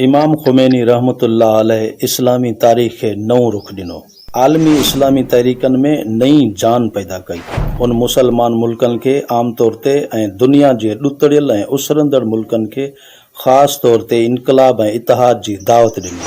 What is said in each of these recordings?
امام خميني رحمة الله عليه اسلامي تاريخ کي نئون رخ ڏنو، عالمي اسلامي تحريڪن ۾ نئين جان پيدا ڪئي. هن مسلمان ملڪن کي عام طور تي ۽ دنيا جي ڏتڙيل ۽ اسرندڙ ملڪن کي خاص طور تي انقلاب ۽ اتحاد جي دعوت ڏني.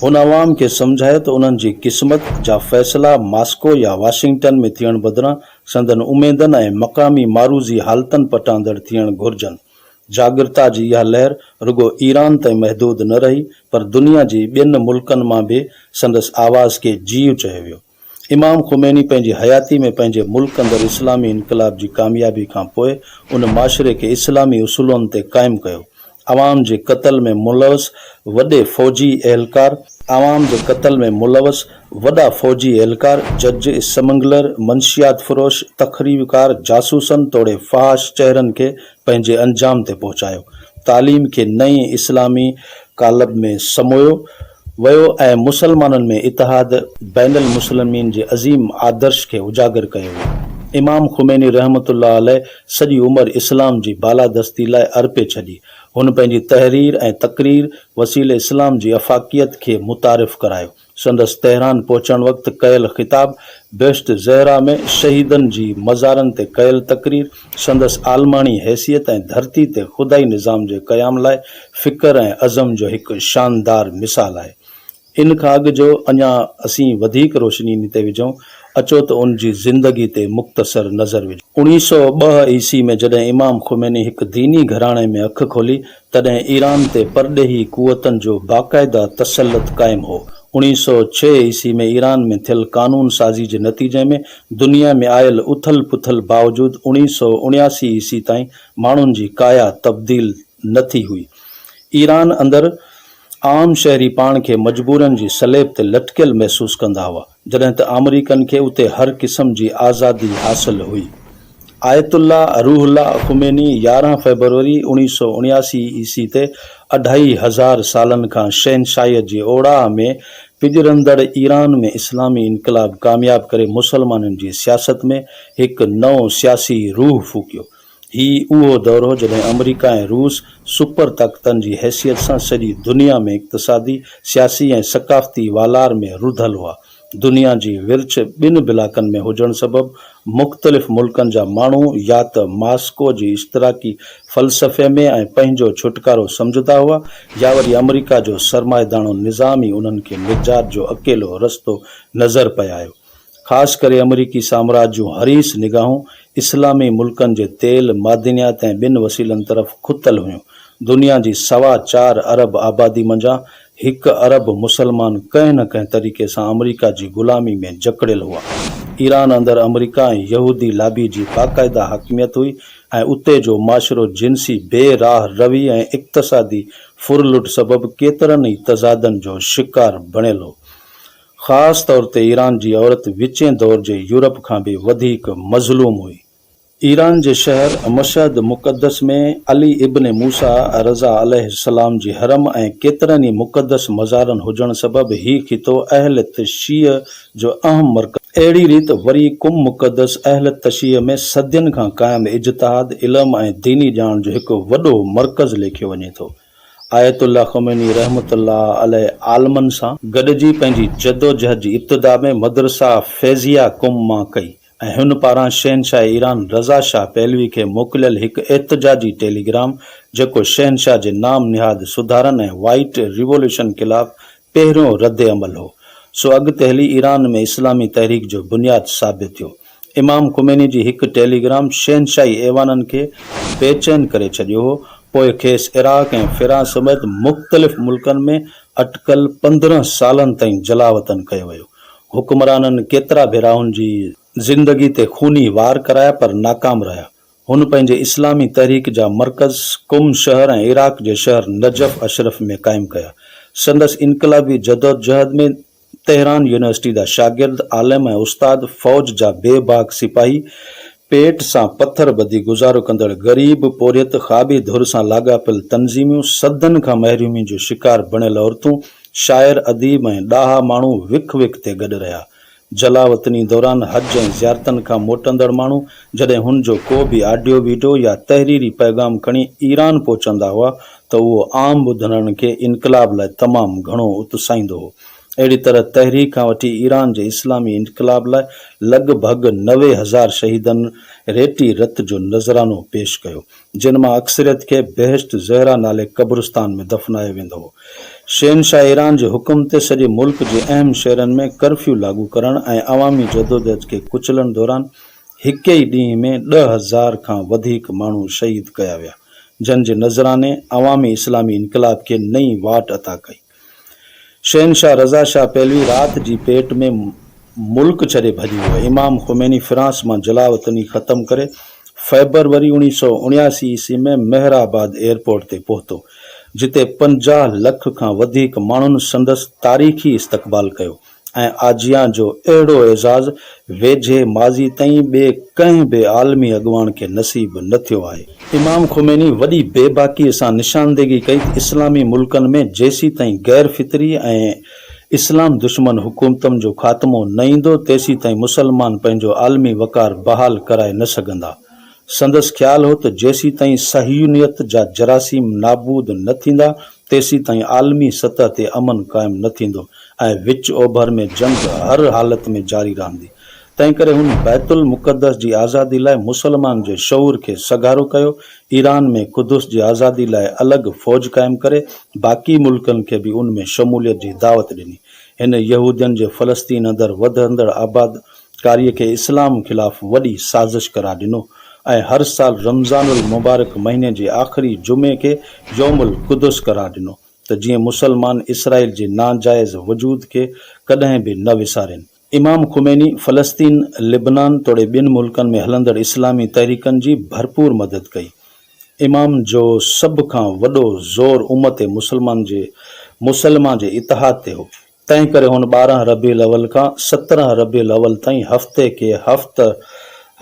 هن عوام کي سمجهايو ته انهن جي قسمت جا فيصلا ماسڪو يا واشنگٽن ۾ ٿيڻ بدران سندن اميدن ۽ مقامي معروضي حالتن پٽاندڙ ٿيڻ گهرجن. جاڳرتا جي اها لهر رڳو ايران تائين محدود نه رهي پر دنيا جي ٻين ملڪن مان به سندس آواز کي جيو چيو ويو. امام خميني پنهنجي حياتي ۾ پنهنجي ملڪ اندر اسلامي انقلاب جي ڪاميابي کان پوء ان معاشري کي اسلامي اصولن تي قائم ڪيو. عوام جي قتل ۾ ملوث وڏي فوجي اهلڪار، عوام جي قتل ۾ ملوث وڏا فوجي اهلڪار، جج، اسمگلر، منشيات فروش، تخريبڪار، جاسوسن توڙي فحاش چهرن کي پنهنجي انجام تي پهچايو. تعليم کي نئين اسلامي قالب ۾ سمويو ويو ۽ مسلمانن ۾ اتحاد بين المسلمين جي عظيم آدرش کي اجاگر ڪيو ويو. امام خميني رحمة الله عليه سڄي عمر اسلام جي بالادستي لاء ارپي ڇڏي. هن پنهنجي تحرير ۽ تقرير وسيلي اسلام جي افاقيت کي متعارف ڪرايو. سندس تهران پهچڻ وقت ڪيل خطاب، بهشت زهره ۾ شهيدن جي مزارن تي ڪيل تقرير، سندس عالماڻي حيثيت ۽ ڌرتي تي خدائي نظام جي قيام لاء فڪر ۽ عزم جو هڪ شاندار مثال آهي. ان کان اڳ جو اڃا اسين وڌيڪ روشني انهي تي وجهون، اچو ته ان جي زندگي تي مختصر نظر وجهون. اوڻيهه سؤ ٻه عيسوي ۾ جڏهن امام خميني هڪ ديني گهراڻي ۾ اک کولي تڏهن ايران تي پرڏيهي قوتن جو باقاعده تسلط قائم هو. اوڻيهه سؤ ڇهه عيسوي ۾ ايران ۾ ٿيل قانون سازي جي نتيجي ۾ دنيا ۾ آيل اٿل پٿل باوجود اوڻيهه سؤ اڻياسي عيسوي تائين ماڻهن جي ڪايا تبديل نه ٿي هئي. ايران اندر عام شهري پاڻ کي مجبورين جي سليب تي لٽڪيل محسوس ڪندا هئا. جڏهن ته آمريڪن کي اتي هر قسم جي آزادي حاصل هئي. Ayatollah Ruhollah Khomeini يارهن فيبروري اوڻيهه سؤ اڻياسي عيسي تي اڍائي هزار سالن کان شهنشاهيت جي اوڙاهه ۾ پڄرندڙ ايران ۾ اسلامي انقلاب ڪامياب ڪري مسلمانن جي سياست ۾ هڪ نئون سياسي روح ڦوڪيو. هي اهو دور هو جڏهن آمريڪا ۽ روس سپر طاقتن جي حيثيت سان سڄي دنيا ۾ اقتصادي، سياسي ۽ ثقافتي والار ۾ رڌل هئا. دنيا جي ورڇ ٻن بلاڪن ۾ هجڻ سبب مختلف ملڪن جا ماڻهو يا ته ماسڪو جي اشتراڪي فلسفي ۾ ۽ پنهنجو ڇوٽڪارو سمجهندا هئا يا وري آمريڪا جو سرمائيداڻو نظام ئي انهن کي نجات جو اڪيلو رستو نظر پئي آيو. خاص ڪري آمريڪي سامراج جون حريص نگاهون اسلامي ملڪن جي تيل، معدنيات ۽ ٻين وسيلن طرف کتل هيون. دنيا جي سوا چار ارب آبادي منجهان هڪ ارب مسلمان ڪنهن نه ڪنهن طريقي سان آمريڪا جي غلامي ۾ جڪڙيل هئا. ايران اندر آمريڪا ۽ يهودي لابي جي باقاعده حاڪميت هئي ۽ اتي جو معاشرو جنسي بي راهه روي ۽ اقتصادي ڦرلٽ سبب ڪيترن ئي تضادن جو شڪار بڻيل هو. خاص طور تي ايران جي عورت وچين دور جي يورپ کان به وڌيڪ مظلوم هئي. ايران جي شهر مشهد مقدس ۾ علي ابن موسيٰ رضه عليه السلام جي حرم ۽ ڪيترن ئي مقدس مزارن هجڻ سبب هي خطو اهل تشيع جو اهم مرڪز هو. اهڙي ريت وري قم مقدس اهل تشيع ۾ صدين کان قائم اجتهاد، علم ۽ ديني ڄاڻ جو هڪ وڏو مرڪز ليکيو وڃي ٿو. آيت الله خميني رحمة الله عليه عالمن سان گڏجي پنهنجي جدوجهد جي ابتدا ۾ مدرسه فيضيه قم مان ڪئي ۽ هن پاران شهنشاهه ايران رضا شاهه پهلوي کي موڪليل هڪ احتجاجي ٽيليگرام جيڪو شهنشاهه جي نام نهاد سڌارن ۽ وائيٽ ريوليوشن خلاف پهريون رد عمل هو، سو اڳتي هلي ايران ۾ اسلامي تحريڪ جو بنياد ثابت ٿيو. امام خميني جي هڪ ٽيلي گرام شهنشاهي ايوانن کي بي چين ڪري ڇڏيو هو، پوء کيس عراق ۽ فرانس سميت مختلف ملڪن ۾ اٽڪل پندرهن سالن تائين جلاوطن ڪيو ويو. حڪمرانن ڪيترا ڀيرا هن جي. زندگي تي خوني وار ڪرايا پر ناڪام رهيا. هن پنهنجي اسلامي تحريڪ جا مرڪز قم شهر ۽ عراق جي شهر نجف اشرف ۾ قائم ڪيا. سندس انقلابي جدوجهد ۾ تهران يونيورسٽي جا شاگرد، عالم ۽ استاد، فوج جا بي باڪ سپاهي، پيٽ سان پٿر ٻڌي گذارو ڪندڙ غريب، پورهيت، کاٻي ڌر سان لاڳاپيل تنظيميون، صدين کان محرومي جو شڪار بڻيل عورتون، شاعر، اديب ۽ ڏاها ماڻهو وک وک تي گڏ رهيا. جلاوطني دوران حج ۽ زيارتن کان موٽندڙ ماڻهو جڏهن هن جو ڪو به آڊيو وڊيو يا تحريري پيغام کڻي ايران پهچندا هئا ته اهو عام ٻڌندڙن کي انقلاب لاء تمام گهڻو اتساهيندو هو. اهڙي طرح تحرير کان وٺي ايران جي اسلامي انقلاب لاء لڳ ڀڳ نوي هزار شهيدن ريٽي رت جو نذرانو پيش ڪيو. جن مان اڪثريت کي بهشت زهره نالي قبرستان ۾ دفنايو ويندو هو. شهنشاهه ايران جي حڪم تي سڄي ملڪ جي اهم شهرن ۾ ڪرفيو لاڳو ڪرڻ ۽ عوامي جدوجهد کي ڪچلڻ دوران هڪ ئي ڏينهن ۾ ڏهه هزار کان وڌيڪ ماڻهو شهيد ڪيا ويا، جن جي نذراني عوامي اسلامي انقلاب کي نئين واٽ عطا ڪئي. شهنشاهه رضا شاهه پهلوي رات جي پيٽ ۾ ملڪ ڇڏي ڀڄي ويو. امام خميني فرانس مان جلا وطني ختم ڪري فيبروري اوڻيهه سؤ اڻياسي عيسوي ۾ مهر آباد ايئرپورٽ تي پهتو، جتي پنجاهه لک کان وڌيڪ ماڻهن سندس تاريخي استقبال ڪيو. ۽ آجيان جو اهڙو اعزاز ويجهي ماضي تائين ٻئي ڪنهن به عالمي اڳواڻ کي نصيب نه ٿيو آهي. امام خميني وڏي بي باڪيء سان نشاندهگي ڪئي ته اسلامي ملڪن ۾ جيسيتائين غير فطري ۽ اسلام دشمن حڪومتن جو خاتمو نه ايندو، تيسيتائين مسلمان پنهنجو عالمي وقار بحال ڪرائي نه سگهندا. سندس خيال هو ته جيسيتائين صهيونيت جا جراثيم نابود نه ٿيندا، تيسيتائين عالمي سطح تي امن قائم نه ٿيندو ۽ وچ اوڀر ۾ جنگ هر حالت ۾ جاري رهندي. تنهن ڪري هن بيت المقدس جي آزادي لاء مسلمان جي شعور کي سگهارو ڪيو، ايران ۾ قدس جي آزادي لاء الڳ فوج قائم ڪري، باقي ملڪن کي به ان ۾ شموليت جي دعوت ڏني. هن يهودين جي فلسطين اندر وڌندڙ آباد قاريء کي اسلام خلاف وڏي سازش قرار ڏنو ۽ هر سال رمضان المبارڪ مهيني جي آخري جمعي کي يوم القدس قرار ڏنو ته جيئن مسلمان اسرائيل جي ناجائز وجود کي ڪڏهن به نه وسارين. امام خميني فلسطين، لبنان توڙي ٻين ملڪن ۾ هلندڙ اسلامي تحريڪن جي ڀرپور مدد ڪئي. امام جو سڀ کان وڏو زور امت مسلمه جي مسلمه جي اتحاد تي هو. تنهن ڪري هن ٻارهن ربيع الاول کان سترهن ربيع الاول تائين هفتي کي هفته،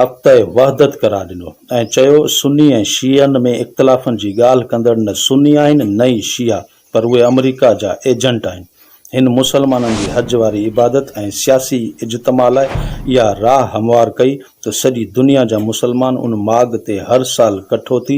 هفتهء وحدت، قرار ڏنو ۽ چيو، سني ۽ شيعن ۾ اختلافن جي ڳالهه ڪندڙ نه سني آهن نه ئي شيعا، پر اهي آمريڪا جا ايجنٽ آهن. هن مسلمانن جي حج واري عبادت ۽ سياسي اجتماع لاء اها راهه هموار ڪئي ته سڄي دنيا جا مسلمان ان ماڳ تي هر سال ڪٺو ٿي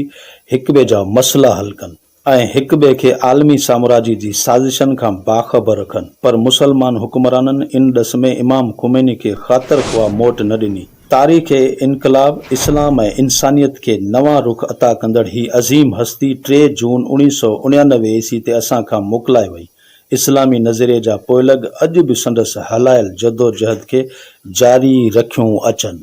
هڪٻئي جا مسئلا حل ڪن. ۽ هڪ ٻئي کي عالمي سامراجي جي سازشن کان باخبر رکن پر مسلمان حڪمرانن ان ڏس ۾ امام خميني کي خاطر خواهه موٽ نه ڏني. تاريخ انقلاب اسلام ۽ انسانيت کي نوان رخ عطا ڪندڙ هي عظيم هستي ٽي جون اڻيهه سؤ اڻيانوي عيسي تي اسان کان موڪلائي وئي. اسلامي نظريي جا پوئلڳ اڄ به سندس هلايل جدوجهد کي جاري رکيون اچن.